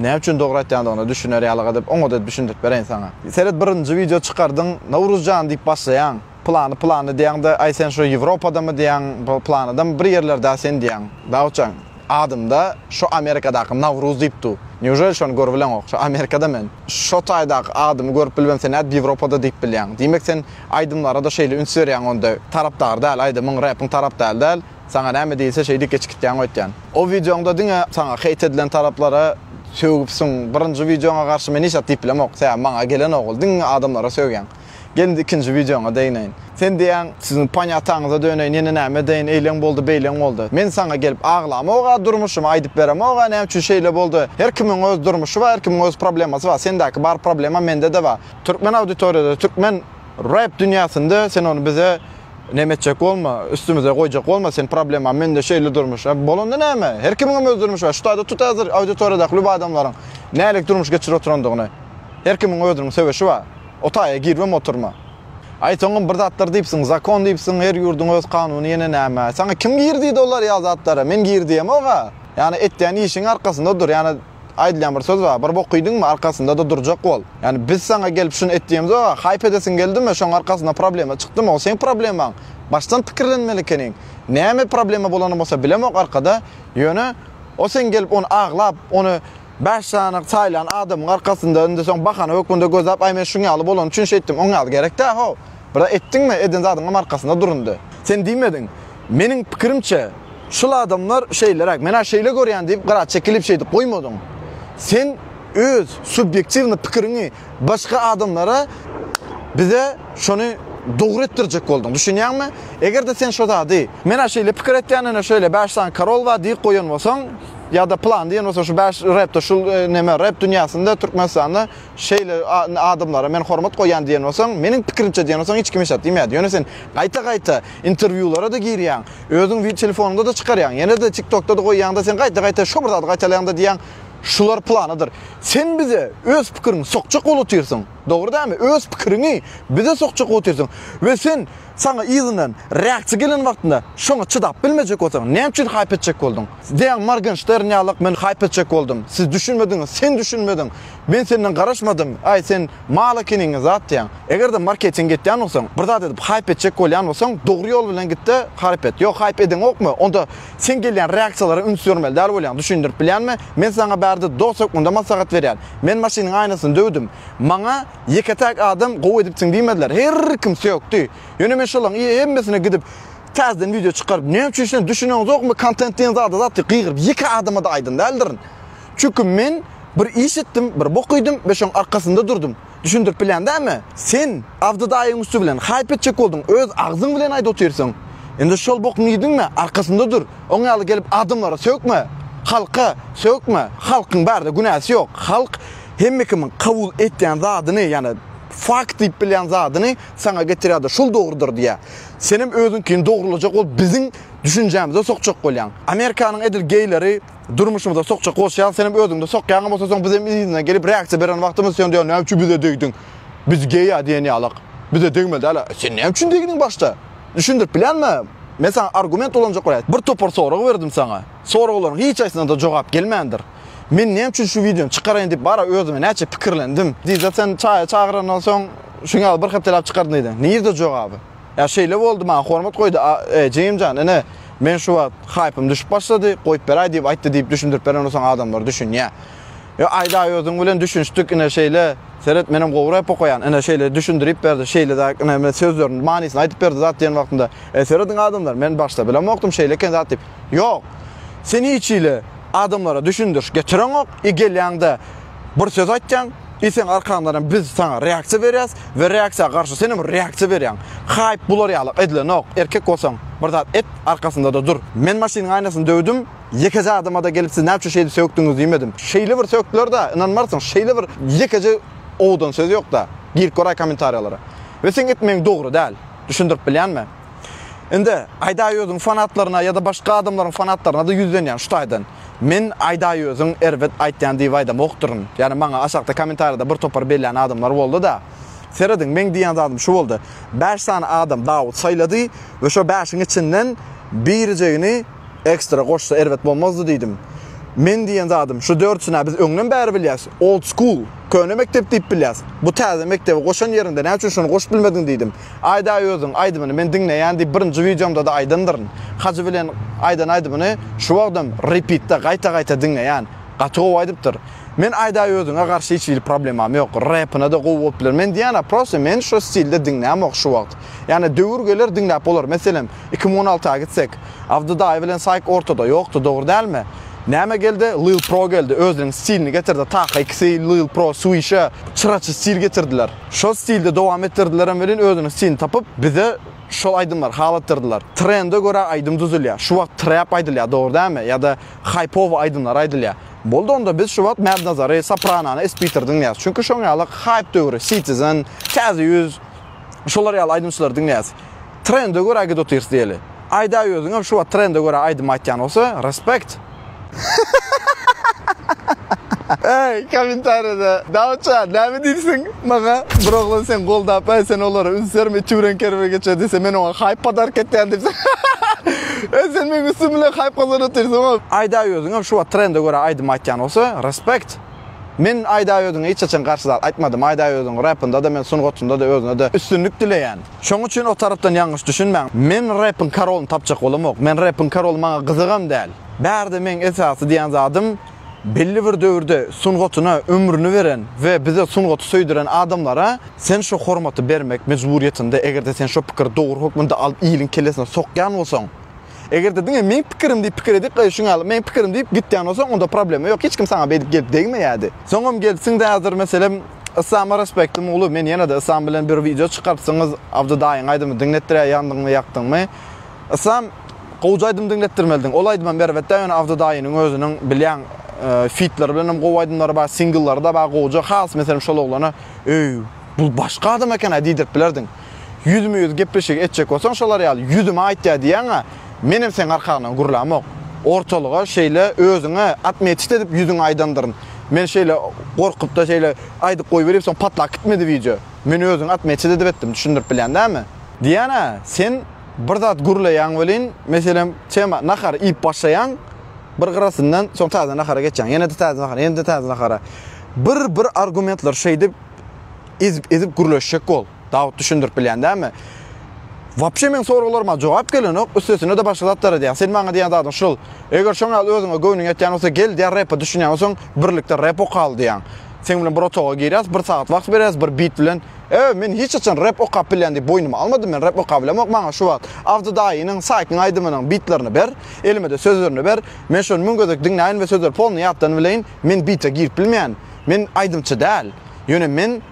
näme üçin dogry aýtýandygyna düşüner ýalyga edip oňada düşündirip bereýin saňa. Seret birinji wideo çykardyň Nowruzjan diýip başlaýaň plany plany diýýäňde aý sen şo ýewropadamy diýýäň planydamy bir ýerlerdä sen diýýäň dawutjan adymda şo amerikadaky nawruz diýip du neujeli şony görübileňok şo amerikada men şo taýdaky adymy görüp bilmem sen nädip ýewropada diýip bilýäň diýmek sen Aýdymlara-da şeýle üns berýäň onda tarapdar däl aýdymyň repiň tarap däl däl saňa näme diýilse şeýdip geçikitýäň öýtýän. O wideoňda diňe saňa heýt edilen taraplara sögüpsiň birinji wideoňa garşy men hiç zat diýip bilemok sebäbi maňa gelenok ol diňe adamlara sögýäň. Gel indi ikinji wideoňa degneýin. Sen diýýäň siziň panyataňyza döneýin ýene näme edeýin eýleň boldy beýleň boldy. Men saňa gelip aglamok-a durmuşymy aýdyp beremok-a näme üçin şeýle boldy her kimiň öz durmuşy bar her kimiň öz problemasy bar sendäki bar problema mende-de bar. Türkmen auditoriýada türkmen rap dünýäsinde sen ony bize nem etjek bolma üstümize goýjak bolma sen problema mende şeýle durmuş bolanda näme her kimiňem öz durmuşy bar şu taýda tut häzir auditoriýadaky lüb adamlaryň nälik durmuş geçirip oturandygyny her kimiň özüniň söweşi bar o taýa girmem oturma aý soňam bir zatlar diýipsiň zakon diýipsiň her ýurduň öz kanuny ýene näme saňa kim gir diýdi olar ýa zatlara men gir diýemok a ýani etýän işiň arkasynda dur ýani Aýdylýan bir söz bar, Bir bok iýdiňmi, arkasynda-da durjak bol. Ýagny biz saňa gelip şuny et diýemizok, a haýp edesiň geldimi, şoň arkasynda problema çykdymy, o seň problemaň. Başdan pikirlenmeli ekeniň. Näme problema bolany bolsa bilemok arkada, ýöne o seň gelip ony aglap, ony bäş sany saýlan adamyň arkasynda indi soň bahana hökmünde gözläp, aý men şuň ýaly bolany üçin şeýtdim, oň ýaly gerek dä-how. Bira etdiňmi, eden zadyňam arkasynda durundy. Sen diýmediň. Meniň pikirimçe, şul adamlar şeýleräk, men-ä şeýle görýän diýip gyra çekilip şeýdip goýmadyň. Sen öz subýektiwny pikiriňi başga adamlara bize şony dogry etdirjek bolduň. Düşünýäňmi? Eger-de sen şo zady. Men-ä şeýle pikir etýän, ine şeýle bäş sany karol bar diýip goýan bolsaň, ýa-da plan diýen bolsaň şu bäş repde şul neme rep dünýäsinde Türkmenistanda Şeýle adamlara men hormat goýýan diýen bolsaň, meniň pikirimçe diýen bolsaň hiç kim hiç zat diýmeyädi. Ýöne sen gaýta-gaýta interwýulara-da girýäň, özüň wi telefonyňda-da çykarýaň, ýene-de tiktokda-da goýýaň-da sen gaýta-gaýta şo bir zady gaýtalaýaň-da diýýäň, şular planydyr. Sen bize öz pikiriňi sokjak bolup otyrsyň, dogry dälmi? Öz pikiriňi bize sokjak bolup otyrsyň we sen Saňa yzyndan räkçi gelen wagtynda şoňa çydap bilmejek bolsaň, näme üçin haýp etjek bolduň? Deň Morgenştern ýalak men haýp etjek boldum. Siz düşünmediňiz, sen düşünmediň. Men senden garaşmadym. Aý, sen mal ekeniňi zatýaň. Eger-de marketing etýän bolsaň, bir zat edip haýp etjek bolýan bolsaň, dogry ýol bilen git-de, haryp et. Ýok, haýp edeňokmy? Onda sen gelýän räkçilara üns bermeli däl bolýaň. Düşündirip bilýänmi? Men saňa bärde dost hökmünde maslahat berýän. Men maşynyň aýnasyny döwdüm. Maňa. Ýeke-täk adam gowy edipsiň diýmediler. Her kim sökdi. Ýöne men şolaň ýe hemmesine gidip täzeden wideo çykaryp näme üçin şuny düşüneňizokmy kontent diýen zada zat ýok gygyryp ýeke adamada aýdan däldirin. Çünki men bir iş etdim bir bok iýdim we şoň arkasynda durdum. Düşündirip bilýän dämi? Sen Abdy daýyň üsti bilen haýp etjek bolduň öz agzyň bilen aýdyp otyrsyň. Indi şol bokuňy iýdiňmi arkasynda dur. Oň ýaly gelip adamlara sökme. Halka sökme. Halkyň bärde günäsi ýok. Halk Hemme kimiň kabul etýän zadyny, ýagny fakt diýip bilýän zadyny saňa getirýärdi, şol dogrudyr diýýär. Senem özüňkini dogrulajak bolup biziň düşünjämize sokjak bolýaň. Amerikanyň edil geýleri durmuşymyza sokjak bolşy ýaly senem özüňde sokýaňam bolsa soň bizem yzyna gelip reaksiýa beren wagtymyz sen diýýäň näme üçin bize degdiň? Biz geýa diýen ýalyk. Bize degmeli däl. Sen näme üçin degdiň başda? Düşündirip bilýänmi? Men saňa argument ulanjak bolaýa. Bir topar sorag berdim saňa. Soraglaryň hiç haýsyna-da jogap gelmändir. Men näme üçin şu wideony çykaraýyn diýip bara özüme näçe pikirlendim. Diýse sen çaýa çagyrandan soň şuň ýaly bir hepdeläp çykardyň diýdi. Nirde jogaby? Ýa şeýle boldy maňa hormat goýdy e, jigimjan ine men şu wagt haýpym düşüp başlady goýup beräý diýip aýtdy diýip düşündirip beren bolsaň adamlar düşünýä. Ýa aýdaý özüň bilen düşünişdik ine şeýle seret menem gowy rep okaýan ine şeýle düşündirip berdi şeýle zat ine sözlerini manysyny aýdyp berdi zat diýen wagtynda e serediň adamlar men başda bilemokdym şeýle eken zat diýip Ýok. Sen hiç hili adamlara düşündiriş getireňok, i gelýäňde bir söz aýtýaň, i seň arkaňdanam biz saňa reaksiýa berýäs we reaksiýa garşy senem reaksiýa berýäň. Haýp bular ýaly edilenok, erkek bolsaň bir zat et, arkasyndada dur. Men maşynyň aýnasyny döwdüm, ýekeje adamada gelip siz näme üçin şeýdip sökdüňiz diýmedim. Şeýle bir sökdüler-da, ynanmarsyň, şeýle bir ýekeje owadan söz ýok-da. Girip göräý kommentariýalara. We seň etmegiň dogry däl. Düşündirip bilýänmi? Indi Aýdaýözüň fanatlaryna ýa-da başga adamlaryň fanatlaryna-da ýüzlenýän şu taýdan. Men Aýdaýözüň erbet aýtýan diýip aýdamokdyryn. Ýagny maňa aşakda kommentariýada bir topar bellän adamlar boldy-da. Serediň, meň diýýän zadym şu boldy. Bäş sany adam Dawut saýlady we şo bäşiň içinden birijegini ekstra goşsa erbet bolmazdy diýdim. Men diýýän zadym şu dördüsini-ä biz öňden bäri bilýäs. Old school, köne mekdep diýip bilýäs. Bu täze mekdebi goşan ýeriňde näçe üçin şony goşup bilmediň diýdim. Aýdaý özüň aýdymyny men diňleýän diýip birinji wideomda-da aýdandyryn. Hajy bilen aýdan aýdymyny şu wagtam repitde gaýta gaýta diňleýän. Gaty gowy aýdypdyr. Men aýdaý özüňe garşy hiç hili problemam ýok. Repyna-da gowy bolup biler. Men diýýän-ä prosta men şu stilde diňlämok şu wagt. Ýani döwür geler diňläp bolar. Meselem iki müň on alty-a gitsek. Abdy daýy bilen Saýk ortada ýokdy dogry dälmi? Näme geldi? Lil pro geldi. Özüniň stilini getirdi. Taka ikisi Lil pro, Swisha çyraçy stil getirdiler. Şol stilde dowam etdirdilerem welin özüniň stilini tapyp bize şol aýdymlary halatdyrdylar. Trende görä aýdym düzülýär. Şu wagt trap aýdylýar dogry dälmi ýa-da haýpowy aýdymlar aýdylýar. Boldy onda biz şu wagt Mad Nazary, Sopranony, Spiteri diňleýäs. Çünki şoň ýaly haýp döwri, Citizen, Täze ýüz şolar ýaly aýdymçylary diňleýäs. Trende görä git otyrs diýeli. Aýdaý özüňem şu wagt trende görä aýdym aýtýan bolsa respect. Eý komentarýada dawutja näme diýipsiň maňa bir oglan seň goldap eý sen olara üns berme tüwreň kerwe geçer diýse men oňa haýp podarka etýän diýipsiň eý sen meň üstüm bilen haýp gazanyp otyrsyň ow. Aýdaý özüňem şu wagt trende görä aýdym aýtýan bolsa respect. Men aýdaý özüňe hiç haçan garşy zat aýtmadym aýdaý özüň repindada men sungatynda da özüne de üstünlik dileýän. Şoň üçin o tarapdan ýalňyş düşünmäň. Men repiň karolyny tapjak bolamok. Men repiň karoly maňa gyzygam däl. Bärde meň esasy diýen zadym belli bir döwürde sungatyna ömrüni beren we bize sungaty söýdüren adamlara sen şo hormaty bermek mejburyýetinde egerde sen şo pikiri dogry hökmünde alyp iliň kellesine sokýan bolsaň Eger-de diňe meň pikirim diýip pikir edip goýuşyň ýaly, meň pikirim diýip gitýän bolsaň, onda problema ýok, hiç kim saňa beýdip gelip degmeýärdi. Soňam gelipsiň-de häzir, meselem, Yslama respektim uly, men ýene-de Yslam bilen bir wideo çykarypsyňyz, Abdy daýyň aýdymy diňletdirýär ýandyňmy, ýakdyňmy? Yslam, gowja aýdym diňletdirmelidiň, ol aýdymam erbet-dä, ýöne Abdy daýynyň özüniň bilýäň, fitleri bilenem gowy aýdymlary bar, singlleri-de bar gowja, has meselem şol oglana, Eý, bul başga adam eken-ä diýdirip bilerdiň. Ýüzme-ýüz gepleşigi etjek bolsaň şolar ýaly ýüzüme aýtýa diýýäň-ä, menem seň arkaňdan gürlämok. Ortalyga şeýle özüňe atmetiş edip ýüzüňe aýdandyryn. Men şeýle gorkup-da şeýle aýdyp goýberip soň patlap gitmedi wideo. Men özüňe atmetiş edip etdim, düşündirip bilýän dälmi? Diýýän-ä, sen bir zat gürleýäň welin, meselem, tema, nahar iýip başlaýaň, bir gyrasyndan soň täze nahara geçýäň, ýene-de täze nahara, ýene-de täze nahara. Bir-bir argumentler şeýdip. ezip ezip gürleşjek bol. Dawut düşündirip bilýän dämi? Wapşe meň soraglaryma jogap gelenok, üstesine de başga zatlar edýär. Sen maňa diýýän zadyň şul. Eger şoň ýaly özüňe göwnüň ýetýän bolsa gel diýýär repe düşünýän bolsaň birlikde rep okaly diýýän. Seň bilen bir otaga girýäs, bir sagat wagt berýäs, bir beat bilen. Ew men hiç haçan rep okap bilýän diýip boýnuma almadym men rep okabilemok maňa şu wagt Abdy daýynyň Saýkyň aýdymynyň beatlerini ber, elimede sözlerini ber, men şony müň gezek diňläýin we sözleri polny ýatdan bileýin, men beate girip bilmeýän, men aýdymçy däl. Ýöne men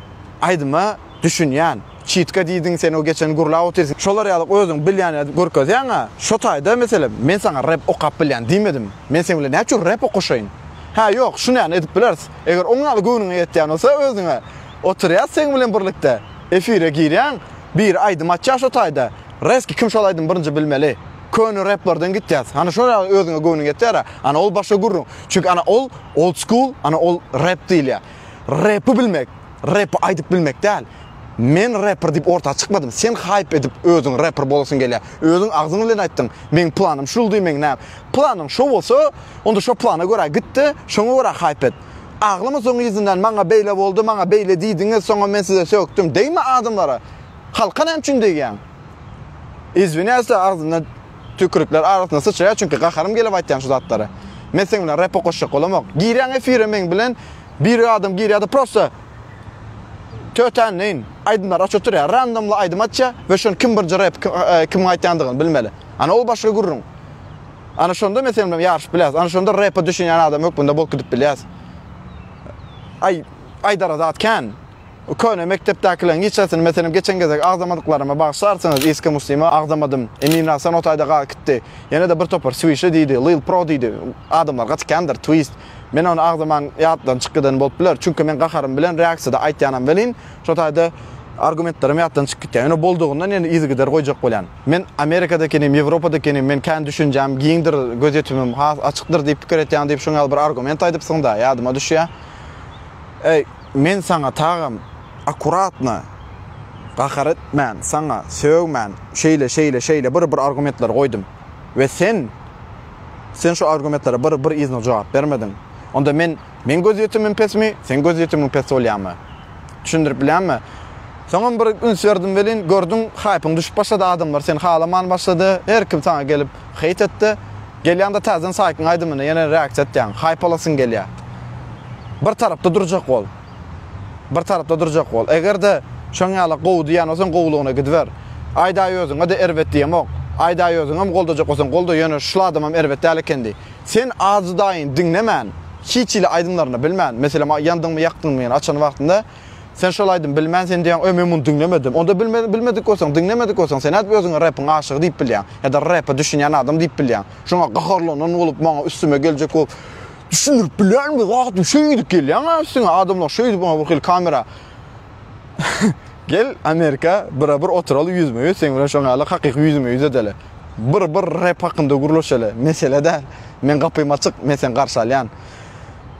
aýdyma düşünýän. Çitka diýdiň sen o geçen gurlap otyrsyň şolar ýaly özüň bilýäni görkezýäňä şo taýda meselem men saňa rep okap bilýän diýmedim men seň bilen näçür rep okaşaýyn hä ýok şunyany edip bileris eger oň ýaly göwnüňe ýetýän bolsa özüňe otyrýas seň bilen birlikde efire girýäň biri aýdym açýa şo taýda reski kim şol aýdymy birinji bilmeli köne replerden gitýäs hany şo ýaly özüňe göwnüň ýetýärä ana ol başga gürrüň çünki ana ol old school ana ol rep diýilýä. Repi bilmek, repi aýdyp bilmek däl. Men reper diýip orta çykmadym. Sen haýp edip özüň reper bolasyň gelýär. Özüň agzyň bilen aýtdyň. Meň planym şuldy, meň näm. Planyň şo bolsa, onda şo plana görä git-de, şoňa görä haýp et. Aglama soň yzyndan maňa beýle boldy, maňa beýle diýdiňiz, soňam men size sökdüm. Degme adamlara. Halka näme üçin degýäň? Izwiniasda agzyndan Tükürikler arasyna syçraýar çünki gaharym gelip aýtýan şu zatlary. Men seň bilen repa goşjak bolamok. Girýäň efire meň bilen bir adam girýärde prosta tötänleýin aýdymlar açyp oturýar. Randomly aýdym açýar we şony kim birinji rep kimiň aýtýandygyny bilmeli. Ana ol başga gürrüň. Ana şonda men seň bilen ýaryşyp bilýäs. Ana şonda repa düşünýän adam hökmünde bolup gidip bilýäs. Aý aýdara zat kän. Köne mekdepdäkileriň hiç haýsyny, meselem, geçen gezek agzamadyklaryma bagyşlarsyňyz, Iska Muslima agzamadym. Emin Rahsan o taýda galyp gitdi. Ýene-de bir topar Swişi diýdi, Lil Pro diýdi. Adamlar gaty kändir, Twist. Men ony agzaman ýatdan çykyp giden bolup biler, çünki men gaharym bilen reaksiýada aýtýanam welin, şo taýda argumentlerim ýatdan çykyp gitýär. Ýöne boldugyndan ýene yzygider goýjak bolýan. Men Amerikada ekenim, Ýewropada ekenim, men kän düşünjäm giňdir, gözýetimim has açykdyr diýip pikir etýän diýip şoň ýaly bir argument aýdypsyň-da, ýadyma düşýär. Eý. Men saňa tagam akkuratno gahar etmän, saňa sögmän, şeýle, şeýle, şeýle bir, bir argumentler goýdum we sen, sen şu argumentlere bir, bir yzno jogap bermediň. Onda men, meň gözýetimim pesmi, seň gözýetimiň pes bolýamy? Düşündirip bilýänmi? Soňam bir üns berdim welin, gördüň, haýpyň düşüp başlady, adamlar seni halaman başlady, her kim saňa gelip, Hate etdi. Gelýäňde täzeden saýtyň aýdymyna ýene reaksiýa etýäň. Haýpalasyň gelýär. Bir tarapda durjak bol. Bir tarapda durjak bol. Eger-de şoň ýaly gowy diýýän bolsaň gowulygyna gidiber. Aýdaý özüňe-de erbet diýemok. Aýdaý özüňem goldajak bolsaň golda ýöne şul adamam erbet däl eken diý. Sen adydaýyny diňlemän, hiç hili aýdymlaryny bilmän, meselem ýandyňmy ýakdyňmy ýene açan wagtynda, Sen şol aýdym bilmän sen diýýäň öý men muny diňlemedim. Onda bilmediň bilmedik bolsaň diňlemedik bolsaň sen nädip özüňi repiň aşygy diýip bilýäň ýa-da repe düşünýän adam diýip bilýäň. Şoňa gaharlanan bolup maňa üstüme geljek bolup düşündirip bilýärmi zatym şeýdip gelýäňä üstüňe adamlar şeýdip maňa birhili kamera gel Amerika bira bir oturaly ýüzme ýüz seň bilen şoňa ýaly hakyky ýüzme ýüz edeli bir bir rep hakynda gürleşeli mesele däl men gapym açyk men seni garşy alýan.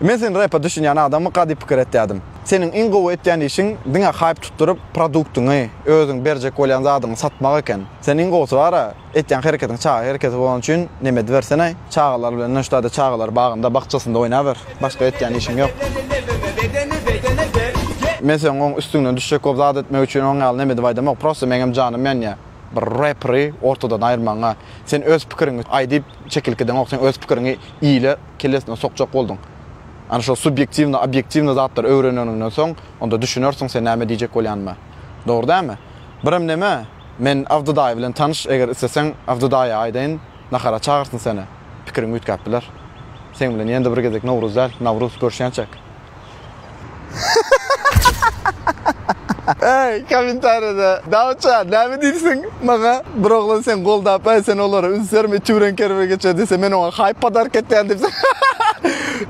Men sen repa düşünýän adamyka diýip pikir etýädim. Seniň iň gowy etýän işiň diňe haýp tutduryp produktyňy, özüň berjek bolýan zadyňy satmak eken. Sen iň gowusy bara, etýän hereketiň çaga hereketi bolany üçin neme edibersenaý, çagalar bilen noştady çagalar bagynda, bakjasynda oýnaber. Başga etýän işiň ýok. Men seň oň üstüňden düşjek bolup zat etmek üçin oň ýaly neme edip aýdamok, prosta meňem janym ýanýa bir reperi ortadan aýyrmagyňa. Sen öz pikiriňi aý diýip çekilip gideňok, sen öz pikiriňi ile kellesine sokjak bolduň. Ana şol subýektiwny, obýektiwny zatlary öwreneniňden soň, onda düşünersiň sen näme diýjek bolýanyma. Dogry dälmi? Birem neme, men Abdy daýy bilen tanyş, eger isleseň Abdy daýa aýdaýyn, nahara çagyrsyn seni. Pikiriň üýtgäp biler. Seň bilen ýene-de bir gezek Nowruz däl, Nawruz görşýänçäk. Eý, kommentariýada, Dawutja, näme diýipsiň maňa? Bir oglan seni goldap, Eý, sen olara üns berme, içi bilen kerwe geçer diýse, men oňa haýp podark etýän diýipsiň.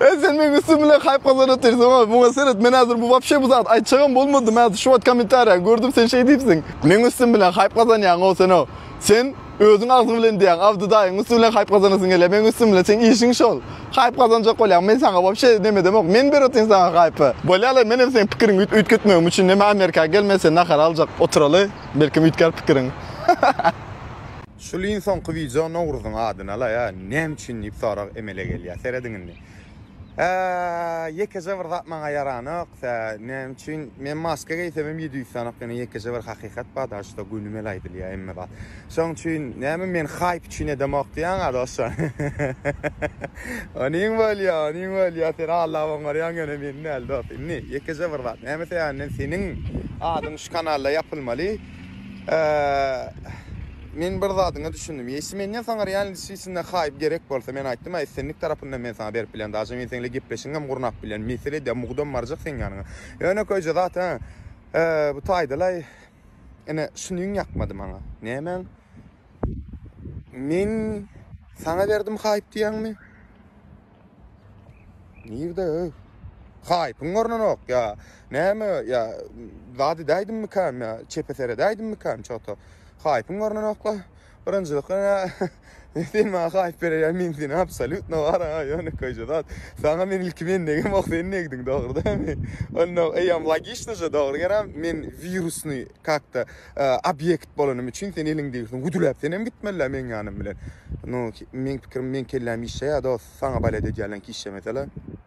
Eý, sen meň üstüm bilen haýp gazanyp otyrsyň, oý, muňa seret, men häzir bu wapşe bu zady aýtjagam bolmadym, häzir şu wagt kommentariýany gördüm, sen şeý diýipsiň. Meň üstüm bilen haýp gazanýaň-ow sen-ow. Sen. Özüň agzyň bilen diýýäň, Abdy daýyň üsti bilen haýp gazanasyň gelýär, meň üstüm bilen, seň işiň şol. Haýp gazanjak bolýaň, men saňa wobşe nemedemok, men beratyn saňa haýpy. Bolýa-laý, menem seň pikiriňi üýtgetmegim üçin neme Amerika gelme sen nahar aljak oturaly, belkem üýtgär pikiriň. Şul iň soňky wideo Nowruzyň adyna-laý-a näme üçin diýip sorag emele gelýär. Serediň indi. Ýekeje bir zat maňa ýaranok. Näme üçin? Men maska geýsem hem ýedi ýüz sanok. Ýöne ýekeje bir hakykat bar, daşy şo güni mel aýdylýar hemme zat. Şoň üçin näme men haýp üçin edemok diýýäň-ä dostjan. Onyň bolýar, onyň bolýar. Sen Allaha oňarýaň ýöne meni däl dost. Indi ýekeje bir zat. Näme sebäpden seniň adyň şu kanalda ýapylmaly? Eee men bir zadyňa düşündim. Ýesi menden saňa realness içinde haýp gerek bolsa men aýtdym a islendik tarapyndan men saňa berip bilen daže men seňle gepleşigem gurnap bilen mesele de mugdam barjak seň ýanyňa. Ýönekeýje zat a eee bu taýdalaý ine şunyň ýakmady maňa. Nämäň? Men saňa berdim haýp diýýäňmi? Nirde öy? Haýpyň görnenok ýa. Näme ýa zat edäýdimmikäm ýa çepe seredäýdimmikäm çota. Haýpyň görnenokla. Birinjilikden ýa sen maňa haýp bererýä men seni absolýutno wara ýöne köýje zat. Saňa men ilki mendegem ok sen degdiň dogry dämi? Onda eýýam logiçnoja dogry gerem men wirusny kakta obýekt bolanym üçin sen eliňdegisiň güdüläp senem gitmelä meň ýanym bilen nu meň pikirim meň kelläm işleýä dost saňa balet edýälenki işlemesela.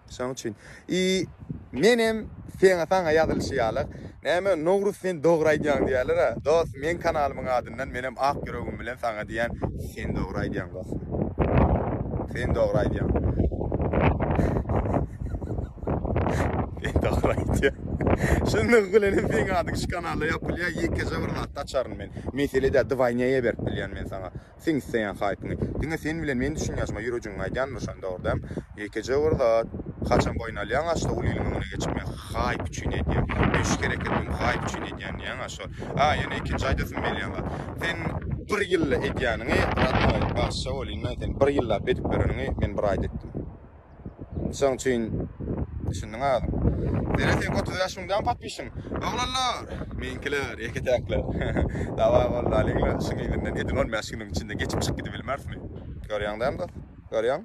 Şoň üçin i menem seňe saňa ýazylyşy ýalyk näme Nowruz sen dogry aýdýaň diýälera dost meň kanalymyň adyndan menem ak ýüregim bilen saňa diýýän sen dogry aýdýaň dost sen dogry aýdýaň. Sen dagry aýtýaň. Şundan bilen hem seň adyň şu kanalda ýapylýar, ýekeje bir zatda açaryn men. Mesele däl, dwaýnýaýa berip bilýän men saňa. Seň isleýän haýpyňy. Diňe sen bilen men düşünýän ýaşyma ýürejigiňi aýdýan bir şonda bar däm. Ýekeje bir zat. Haçan boýun alýaň aşda ol iliň öňüne geçip men haýp üçin edýän. Men şu hereketimi bu haýp üçin edýän diýýäň aşa. Ha ýene ikinji aýdasym gelýän zat. Sen bir ýylda edýäniňi, rodnoý, bagşy bolýyn men seni, bir ýyllap edip bereniňi men bir aýda etdim. Şoň üçin düşündiň özüň. Zerä seňki otuz bäş müň däl patpişiň. Oglanlar! Meňkiler, ýeke-täkler. Dawa boldy alyňla şuň yzyndan edil on bäş günüň içinde geçip çyk gidibilmerismi. Görýäň däl dost. Görýäň.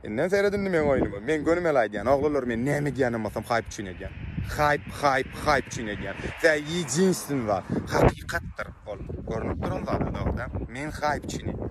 Indem sered indi meň oýnumy. Meň gönümel aýdýan, oglanlar men näme edýänem bolsam haýp üçin edýän. Haýp, haýp, haýp üçin edýän. Tä ýedinstwny zat. Hakykatdyr ol. Görnüp duran zat-a dogry däl. Men haýp üçin edýän.